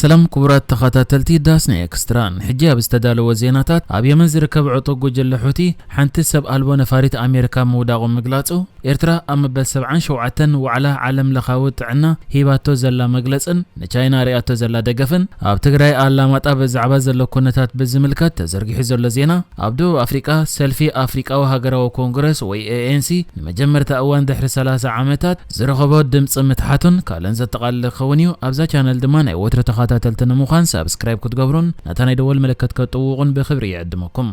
ሰላም ክቡራት ተኸታተልቲ ዳስና ኤክስትራ፣ ሕጂ ኣብ ዝተዳለወ ዜናታት፣ ኣብ የመን ዝርከብ ዕጡቕ ጉጅለ ሑቲ ሓንቲ ሰብ ኣልቦ ነፋሪት ኣሜሪካ ምውዳቑ ምግላጹ፣ ኤርትራ ኣብ መበል ሰብዓን ሸውዓተን ዋዕላ ዓለም ለኻዊ ጥዕና ሂባቶ ዘላ መግለጽን ንቻይና ኣርእያቶ ዘላ ደገፍን፣ ኣብ ትግራይ ኣላማጣ ብዛዕባ ዘሎ ኩነታት ብዝምልከት ተዘርጊሑ ዘሎ ዜና፣ ኣብ ደቡብ ኣፍሪቃ ሰልፊ ኣፍሪቃዊ ሃገራዊ ኮንግረስ ወይ ኤኤንሲ ንመጀመርታ እዋን ድሕሪ ሰላሳ ዓመታት ዝረኸቦ ድምጽ ምትሓቱን ካልእን ዘጠቓልል ክኸውን እዩ። ኣብዛ ቻነል ድማ ናይ ወትሩ ተኻታተልቲ ንምዃን ሳብስክራይብ ክትገብሩን ነታ ናይ ደወል ምልክት ከጥውቑን ብኽብሪ ይዕድመኩም።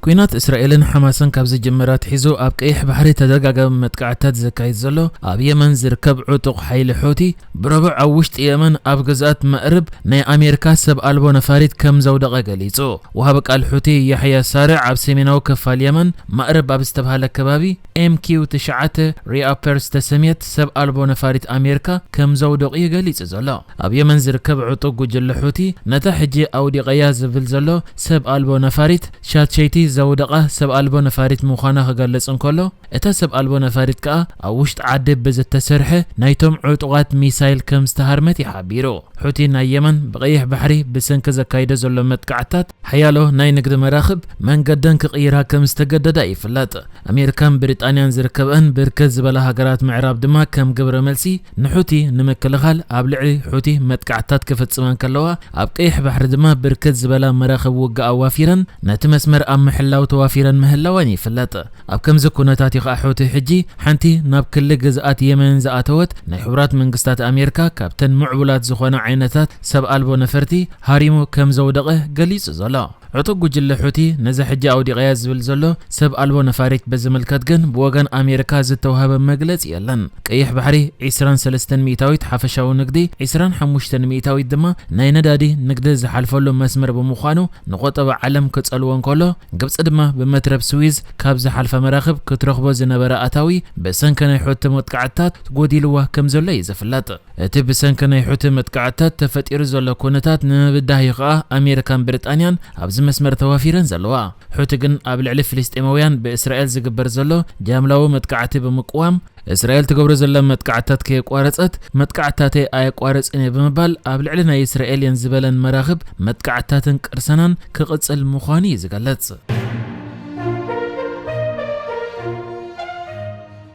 ኲናት እስራኤልን ሓማስን ካብ ዝጅምር ኣትሒዙ ኣብ ቀይሕ ባሕሪ ተደጋጋሚ መጥቃዕትታት ዘካይድ ዘሎ ኣብ የመን ዝርከብ ዕጡቕ ሓይሊ ሑቲ፣ ብረቡዕ ኣብ ውሽጢ የመን ኣብ ግዝኣት መእርብ ናይ ኣሜሪካ ሰብ ኣልቦ ነፋሪት ከም ዘውደቐ ገሊጹ። ወሃቢ ቃል ሑቲ ያሕያ ሳርዕ ኣብ ሰሜናዊ ክፋል የመን መእርብ ኣብ ዝተብሃለ ከባቢ፣ ኤምኪው ትሽዓተ ሪኣፐር ዝተሰምየት ሰብ ኣልቦ ነፋሪት ኣሜርካ ከም ዘውደቑ'ዩ ገሊጹ ዘሎ። ኣብ የመን ዝርከብ ዕጡቕ ጉጅለ ሑቲ ነታ ሕጂ ኣውዲቐያ ዝብል ዘሎ ሰብ ኣልቦ ነፋሪት ሻትሸይቲ ዘውደቓ ሰብ ኣልቦ ነፋሪት ምዃና ክገልጽ እንከሎ እታ ሰብ ኣልቦ ነፋሪት ከኣ ኣብ ውሽጢ ዓዲ ብዝተሰርሐ ናይቶም ዕጡቓት ሚሳይል ከም ዝተሃርመት'ዩ ሓቢሩ። ሑቲ ናይ የመን ብቀይሕ ባሕሪ ብሰንኪ ዘካይዶ ዘሎ መጥቃዕትታት ሓያሎ ናይ ንግዲ መራኽብ መንገደን ክቕይራ ከም ዝተገደዳ ይፍለጥ። ኣሜሪካን ብሪጣንያን ዝርከበኣን ብርክት ዝበላ ሃገራት ምዕራብ ድማ ከም ግብረ መልሲ ንሑቲ ንምክልኻል ኣብ ልዕሊ ሑቲ መጥቃዕትታት ክፍጽማ እንከለዋ ኣብ ቀይሕ ባሕሪ ድማ ብርክት ዝበላ መራኽብ ውግእ ኣዋፊረን ነቲ መስመር ኣብ ምሕላው ተዋፊረን ምህላወን ይፍለጥ። ኣብ ከምዚ ኩነታት እዩ ከኣ ሑቲ ሕጂ ሓንቲ ናብ ክሊ ግዝኣት የመን ዝኣተወት ናይ ሕቡራት መንግስታት ኣሜሪካ ካብተን ምዕቡላት ዝኾና ዓይነታት ሰብ ኣልቦ ነፈርቲ ሃሪሙ ከም ዘውደቐ ገሊጹ ዘሎ። ዕጡቕ ጉጅለ ሑቲ ነዛ ሕጂ ኣውዲቐያ ዝብል ዘሎ ሰብ ኣልቦ ነፋሪት ብዝምልከት ግን ብወገን ኣሜሪካ ዝተውሃበ መግለጺ የለን። ቀይሕ ባሕሪ ዕስራን ሰለስተን ሚእታዊት ሓፈሻዊ ንግዲ ዕስራን ሓሙሽተን ሚእታዊት ድማ ናይ ነዳዲ ንግዲ ዝሓልፈሉ መስመር ብምዃኑ ንቆጠባ ዓለም ክጸልዎ እንከሎ ግብጺ ድማ ብመትረብ ስዊዝ ካብ ዝሓልፋ መራኽብ ክትረኽቦ ዝነበራ ኣታዊ ብሰንኪ ናይ ሑቲ መጥቃዕትታት ጎዲልዋ ከምዘሎ እዩ ዝፍለጥ። እቲ ብሰንኪ ናይ ሑቲ መጥቃዕትታት ተፈጢሩ ዘሎ ኩነታት ንምብዳህ እዩ ከኣ ኣሜሪካን ብሪጣንያን ኣብዚ መስመር ተዋፊረን ዘለዋ። ሑቲ ግን ኣብ ልዕሊ ፍልስጤማውያን ብእስራኤል ዝግበር ዘሎ ጃምላዊ መጥቃዕቲ ብምቅዋም፣ እስራኤል ትገብሮ ዘላ መጥቃዕትታት ከየቋረጸት መጥቃዕትታተይ ኣየቋርጽን እየ ብምባል ኣብ ልዕሊ ናይ እስራኤል እየን ዝበለን መራኽብ መጥቃዕትታትን ቅርሰናን ክቕጽል ምዃኑ እዩ ዝገልጽ።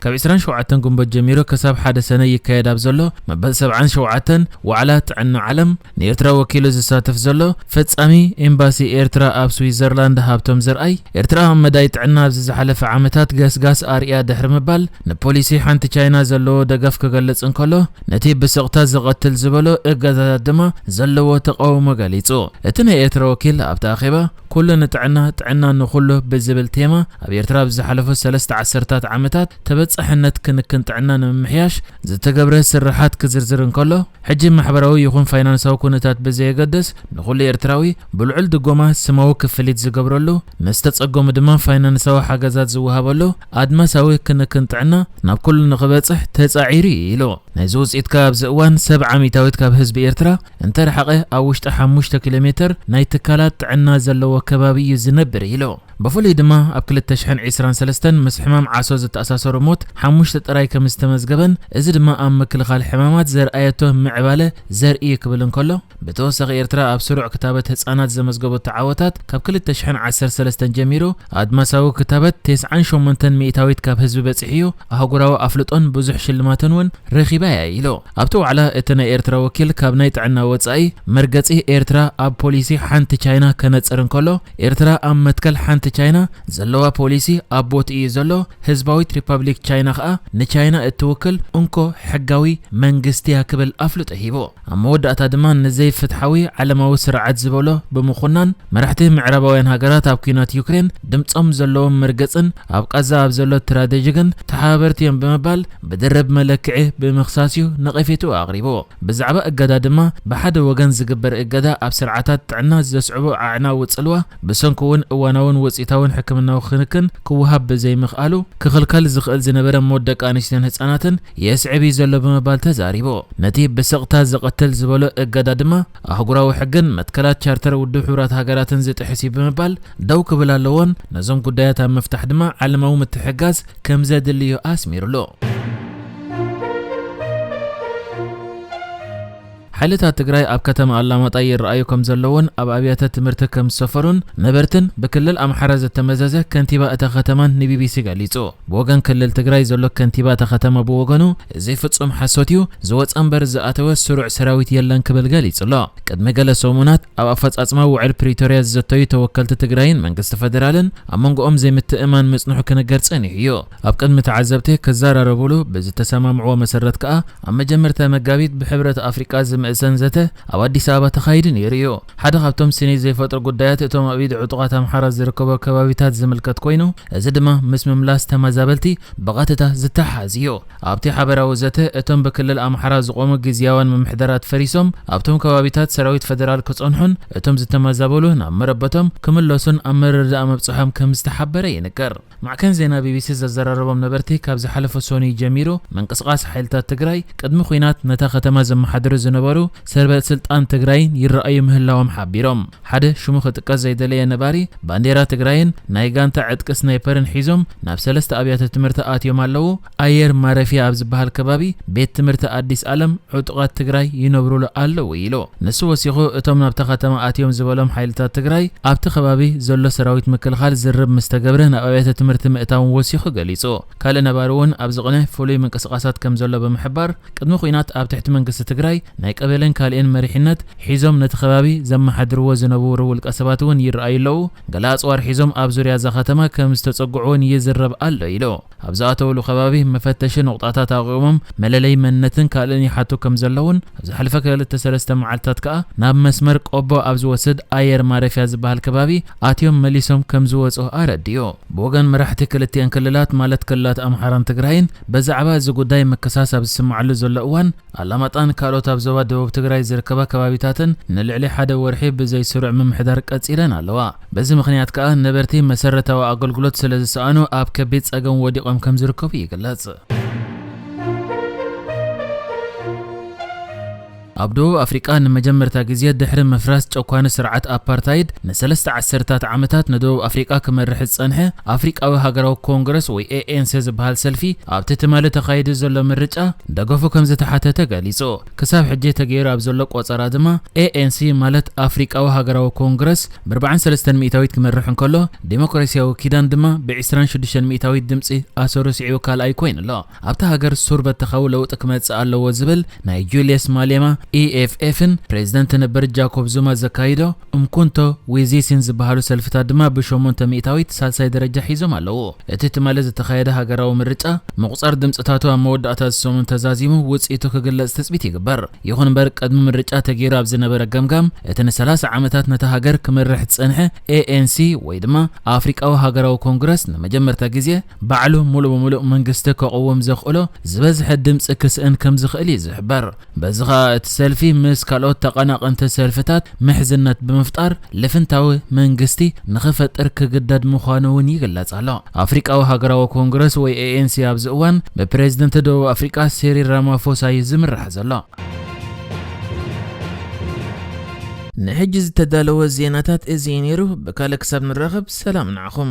ካብ ዕስራን ሸውዓተን ግንቦት ጀሚሩ ክሳብ ሓደ ሰነ ይካየድ ኣብ ዘሎ መበል ሰብዓን ሸውዓተን ዋዕላ ጥዕና ዓለም ንኤርትራ ወኪሉ ዝሳተፍ ዘሎ ፈጻሚ ኤምባሲ ኤርትራ ኣብ ስዊዘርላንድ ሃብቶም ዘርኣይ ኤርትራ ኣብ መዳይ ጥዕና ኣብዚ ዝሓለፈ ዓመታት ገስጋስ ኣርእያ ድሕሪ ምባል ንፖሊሲ ሓንቲ ቻይና ዘለዎ ደገፍ ክገልጽ እንከሎ ነቲ ብስቕታ ዝቐትል ዝበሎ እገዳታት ድማ ዘለዎ ተቓውሞ ገሊጹ። እቲ ናይ ኤርትራ ወኪል ኣብቲ ኣኼባ ኩሉ ንጥዕና፣ ጥዕና ንኹሉ ብዝብል ቴማ ኣብ ኤርትራ ኣብ ዝሓለፉ ሰለስተ ዓሰርታት ዓመታት ተበጻሕነት ክንክን ጥዕና ንምምሕያሽ ዝተገብረ ስርሓት ክዝርዝር እንከሎ፣ ሕጂ ማሕበራዊ ይኹን ፋይናንሳዊ ኩነታት ብዘየገድስ ንኹሉ ኤርትራዊ ብልዑል ድጎማ ስማዊ ክፍሊት ዝገብረሉ፣ ንዝተጸገሙ ድማ ፋይናንሳዊ ሓገዛት ዝወሃበሉ ኣድማሳዊ ክንክን ጥዕና ናብ ኩሉ ንኽበጽሕ ተጻዒሩ ኢዩ ኢሉ። ናይዚ ውጽኢት ከኣ ኣብዚ እዋን ሰብዓ ሚታዊት ካብ ህዝቢ ኤርትራ እንተረሓቐ ኣብ ውሽጢ ሓሙሽተ ኪሎ ሜተር ናይ ትካላት ጥዕና ዘለዎ ከባቢ እዩ ዝነብር ኢሉ። ብፍሉይ ድማ ኣብ ክልተ ሽሕን ዒስራን ሰለስተን ምስ ሕማም ዓሶ ዝተኣሳሰሩ ሞት ሓሙሽተ ጥራይ ከምዝተመዝገበን እዚ ድማ ኣብ ምክልኻል ሕማማት ዘርኣየቶ ምዕባለ ዘርኢ እዩ ክብል እንከሎ ብተወሳኺ ኤርትራ ኣብ ስሩዕ ክታበት ህጻናት ዘመዝገበቶ ዓወታት ካብ ክልተ ሽሕን ዓሰርተ ሰለስተን ጀሚሩ ኣድማሳዊ ክታበት ቴስዓን ሸሞንተን ሚእታዊት ካብ ህዝቢ በጺሑ'ዩ ኣህጉራዊ ኣፍልጦን ብዙሕ ሽልማትን እውን ረኺባ እያ ኢሉ። ኣብቲ ዋዕላ እቲ ናይ ኤርትራ ወኪል ካብ ናይ ጥዕና ወጻኢ መርገጺ ኤርትራ ኣብ ፖሊሲ ሓንቲ ቻይና ከነጽር እንከሎ ኤርትራ ኣብ መትከል ሓንቲ ቻይና ዘለዋ ፖሊሲ ኣብ ቦትኡ እዩ ዘሎ፣ ህዝባዊት ሪፓብሊክ ቻይና ከኣ ንቻይና እትውክል እንኮ ሕጋዊ መንግስቲ'ያ ክብል ኣፍልጦ ሂቡ። ኣብ መወዳእታ ድማ ንዘይፍትሓዊ ዓለማዊ ስርዓት ዝበሎ ብምኹናን መራሕቲ ምዕራባውያን ሃገራት ኣብ ኲናት ዩክሬን ድምጾም ዘለዎም መርገጽን ኣብ ቓዛ ኣብ ዘሎ ትራደጂ ግን ተሓባበርቲ እዮም ብምባል ብድርብ መለክዒ ብምኽሳስ እዩ ነቐፌትኡ ኣቕሪቡ። ብዛዕባ እገዳ ድማ ብሓደ ወገን ዝግበር እገዳ ኣብ ስርዓታት ጥዕና ዘስዕቦ ኣዕናዊ ጽልዋ ብሰንኩ'ውን እዋናውን ውጽኢታውን ሕክምናዊ ክንክን ክወሃብ ብዘይምኽኣሉ ክኽልከል ዝኽእል ዝነበረ ሞት ደቂ ኣንስትዮን ህጻናትን የስዕብ እዩ ዘሎ ብምባል ተዛሪቡ። ነቲ ብስቕታ ዘቐትል ዝበሎ እገዳ ድማ ኣህጉራዊ ሕግን መትከላት ቻርተር ውድብ ሕቡራት ሃገራትን ዝጥሕስ እዩ ብምባል ደው ክብል ኣለዎን ነዞም ጉዳያት ኣብ ምፍታሕ ድማ ዓለማዊ ምትሕግጋዝ ከምዘድሊ እዩ ኣስሚርሉ። ሓይልታት ትግራይ ኣብ ከተማ ኣላማጣ ይረኣዩ ከምዘለዉን ኣብ ኣብያተ ትምህርቲ ከምዝሰፈሩን ነበርትን ብክልል ኣምሓራ ዝተመዘዘ ከንቲባ እታ ከተማን ንቢቢሲ ገሊጹ። ብወገን ክልል ትግራይ ዘሎ ከንቲባ እታ ከተማ ብወገኑ እዚ ፍጹም ሓሶት'ዩ፣ ዝወጸ እምበር ዝኣተወ ስሩዕ ሰራዊት የለን ክብል ገሊጹ'ሎ። ቅድሚ ገለ ሰሙናት ኣብ ኣፈጻጽማ ውዕል ፕሪቶርያ ዝዘተዩ ተወከልቲ ትግራይን መንግስቲ ፈደራልን ኣብ መንጎኦም ዘይምትእምማን ምጽንሑ ክንገር ጸኒሑ'ዩ። ኣብ ቅድሚ ተዓዘብቲ ክዘራረቡሉ ብዝተሰማምዕዎ መሰረት ከኣ ኣብ መጀመርታ መጋቢት ብሕብረት ኣፍሪቃ ዝምእዘን ዘተ ኣብ ኣዲስ ኣበባ ተኻይዱ ነይሩ እዩ። ሓደ ካብቶም ስኒት ዘይፈጥሩ ጉዳያት እቶም ኣብ ኢድ ዕጡቓት ኣምሓራ ዝርከቦ ከባቢታት ዝምልከት ኮይኑ እዚ ድማ ምስ ምምላስ ተመዛበልቲ ብቐጥታ ዝተሓሓዝ እዩ። ኣብቲ ሓበራዊ ዘተ እቶም ብክልል ኣምሓራ ዝቖሙ ግዝያውያን ምምሕዳራት ፈሪሶም ኣብቶም ከባቢታት ሰራዊት ፈደራል ክጸንሑን እቶም ዝተመዛበሉ ናብ መረበቶም ክምለሱን ኣብ ምርድዳእ ምብጽሖም ከምዝተሓበረ ይንገር። ማዕከን ዜና ቢቢሲ ዘዘራረቦም ነበርቲ ካብ ዝሓለፈ ሶኑይ ጀሚሩ ምንቅስቓስ ሓይልታት ትግራይ ቅድሚ ኹናት ነታ ከተማ ዘመሓድሩ ዝነበሩ ሰበ ስልጣን ትግራይን ይረኣዩ ምህላዎም ሓቢሮም። ሓደ ሽሙ ክጥቀስ ዘይደለየ ነባሪ ባንዴራ ትግራይን ናይ ጋንታ ዕጥቂ ስናይፐርን ሒዞም ናብ ሰለስተ ኣብያተ ትምህርቲ ኣትዮም ኣለዉ፣ ኣየር ማረፊያ ኣብ ዝበሃል ከባቢ ቤት ትምህርቲ ኣዲስ ኣለም ዕጡቓት ትግራይ ይነብሩሉ ኣለዉ ኢሉ። ንሱ ወሲኹ እቶም ናብታ ከተማ ኣትዮም ዝበሎም ሓይልታት ትግራይ ኣብቲ ከባቢ ዘሎ ሰራዊት ምክልኻል ዝርርብ ምስ ተገብረ ናብ ኣብያተ ትምህርቲ ምእታዎም ወሲኹ ገሊፁ። ካልእ ነባሪ እውን ኣብዚ ቕነ ፍሉይ ምንቅስቓሳት ከም ዘሎ ብምሕባር ቅድሚ ኹናት ኣብ ትሕቲ መንግስቲ ትግራይ ናይ ቀበሌን ካሊእን መሪሕነት ሒዞም ነቲ ከባቢ ዘመሓድርዎ ዝነቡሩ ውልቀ ሰባት እውን ይረኣዩ ኣለዉ ገለ ኣፅዋር ሒዞም ኣብ ዙርያ እዛ ከተማ ከም ዝተፀግዑ እውን ይዝረብ ኣሎ ኢሉ። ኣብ ዝኣተውሉ ከባቢ መፈተሺ ነቑጣታት ኣቚሞም መለለዪ መንነትን ካልእን ይሓቱ ከም ዘለዉን ኣብ ዝሓለፈ ክልተ ሰለስተ መዓልትታት ከኣ ናብ መስመር ቆቦ ኣብ ዝወስድ ኣየር ማረፊያ ዝበሃል ከባቢ ኣትዮም መሊሶም ከም ዝወጹ ኣረዲኡ። ብወገን መራሕቲ ክልቲኤን ክልላት ማለት ክልላት ኣምሓራን ትግራይን በዛዕባ እዚ ጉዳይ ምክሳስ ኣብ ዝስመዓሉ ዘሎ እዋን፣ ኣላማጣን ካልኦት ኣብ ዞባ ደቡብ ትግራይ ዝርከባ ከባቢታትን ንልዕሊ ሓደ ወርሒ ብዘይ ስሩዕ ምምሕዳር ቀፂለን ኣለዋ። በዚ ምኽንያት ከኣ ነበርቲ መሰረታዊ ኣገልግሎት ስለዝሰኣኑ ኣብ ከቢድ ፀገም ወዲቖም ከምዝርከቡ ይግለፅ። ኣብ ደቡብ ኣፍሪቃ ንመጀመርታ ግዜ ድሕሪ ምፍራስ ጨኳኒ ስርዓት ኣፓርታይድ ንሰለስተ ዓሰርታት ዓመታት ንደቡብ ኣፍሪቃ ክመርሕ ዝጸንሐ ኣፍሪቃዊ ሃገራዊ ኮንግረስ ወይ ኤኤንሴ ዝበሃል ሰልፊ ኣብቲ ትማሊ ተኻይዱ ዘሎ ምርጫ ደገፉ ከምዝተሓተተ ገሊጹ። ክሳብ ሕጂ ተገይሩ ኣብ ዘሎ ቆጸራ ድማ ኤኤንሲ ማለት ኣፍሪቃዊ ሃገራዊ ኮንግረስ ብርብዓን ሰለስተን ሚእታዊት ክመርሕ እንከሎ ዲሞክራሲያዊ ኪዳን ድማ ብዒስራን ሽዱሽተን ሚእታዊት ድምጺ ኣሰሩ ስዒቡ ካልኣይ ኮይኑ ኣሎ። ኣብታ ሃገር ሱር በተኻዊ ለውጢ ክመጽእ ኣለዎ ዝብል ናይ ጁልየስ ማሌማ ኢኤፍኤፍን ፕረዚደንት ነበር ጃኮብ ዙማ ዘካይዶ ኡምኮንቶ ዌዜሲን ዝበሃሉ ሰልፍታት ድማ ብሸሞንተ ሚእታዊት ሳልሳይ ደረጃ ሒዞም ኣለዉ። እቲ ትማሊ ዝተኻየደ ሃገራዊ ምርጫ፣ ምቑጻር ድምጽታቱ ኣብ መወዳእታ እዚ ሰሙን ተዛዚሙ ውጽኢቱ ክግለጽ ትጽቢት ይግበር። ይኹን እምበር ቅድሚ ምርጫ ተገይሩ ኣብ ዝነበረ ገምጋም፣ እቲ ንሰላሳ ዓመታት ነታ ሃገር ክመርሕ ዝጸንሐ ኤኤንሲ ወይ ድማ ኣፍሪቃዊ ሃገራዊ ኮንግረስ ንመጀመርታ ግዜ ባዕሉ ሙሉእ ብሙሉእ መንግስቲ ከቕውም ዘኽእሎ ዝበዝሐ ድምፂ ክስእን ከምዝኽእል እዩ ዝሕበር። በዚ ኸኣ እቲ ሰልፊ ምስ ካልኦት ተቐናቐንቲ ሰልፍታት ምሕዝነት ብምፍጣር ልፍንታዊ መንግስቲ ንኽፈጥር ክግደድ ምዃኑ እውን ይግለፅ ኣሎ። ኣፍሪቃዊ ሃገራዊ ኮንግረስ ወይ ኤኤንሲ ኣብዚ እዋን ብፕረዚደንት ደቡብ ኣፍሪቃ ሲሪል ራማፎሳ እዩ ዝምራሕ ዘሎ። ንሕጂ ዝተዳለወ ዜናታት እዚ እዩ ነይሩ። ብካልእ ክሳብ ንራኸብ ሰላም ንዓኹም።